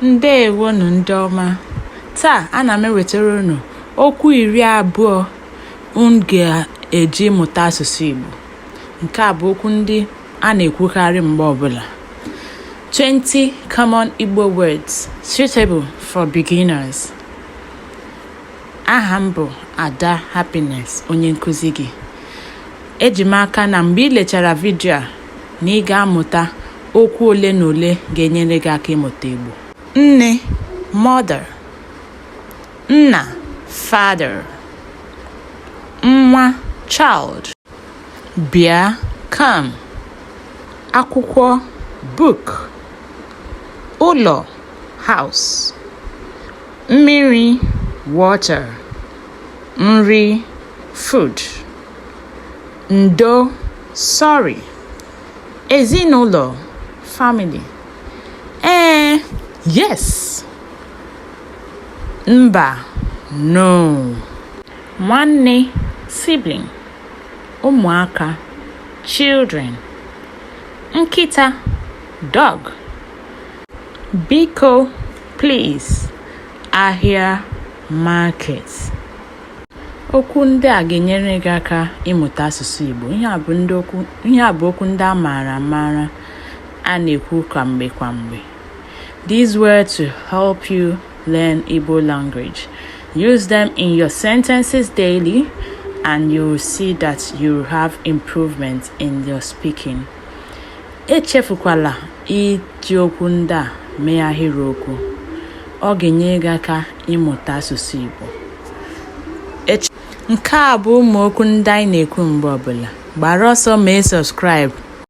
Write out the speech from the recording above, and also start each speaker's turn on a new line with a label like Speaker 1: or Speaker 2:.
Speaker 1: ndewonu ndị ọma taa ana m ewetara unu okwu iri abụọ unu ga-eji mụta asụsụ Igbo nke a bụ okwu ndị a na-ekwukarị mgbe ọbụla 20 common Igbo words suitable for beginners aha m bụ Ada Happiness onye nkụzi gị eji m aka na mgbe ị lechara vidio a na ị ga-amụta okwu ole na ole ga-enyere gị aka ịmụta Igbo. Nne, mother. Nna, father. Nwa, child. Bịa, come. Akwụkwọ, book. Ụlọ, house. Mmiri, water. Nri, food. Ndo, sorry. Ezinụlọ, family. Ee, yes. Mba, no. Nwanne, sibling. Ụmụaka, children. Nkịta, dog. Biko, please. Ahịa, market. Okwu ndị a ga-enyere gị aka ịmụta asụsụ Igbo. Ihe a bụ okwu ndị a maara amaara a na-ekwu kwa mgbe kwa mgbe. These words to help you learn Igbo language. Use them in your sentences daily and you will see that you have improvement in your speaking. Echefukwala iji okwu ndị a mee ahịrịokwu. Ọ ga-enyere gị aka ịmụta asụsụ Igbo. Nke a bụ ụmụ okwu ndị anyị na-ekwu mgbe ọbụla. Gbara ọsọ mee subscribe.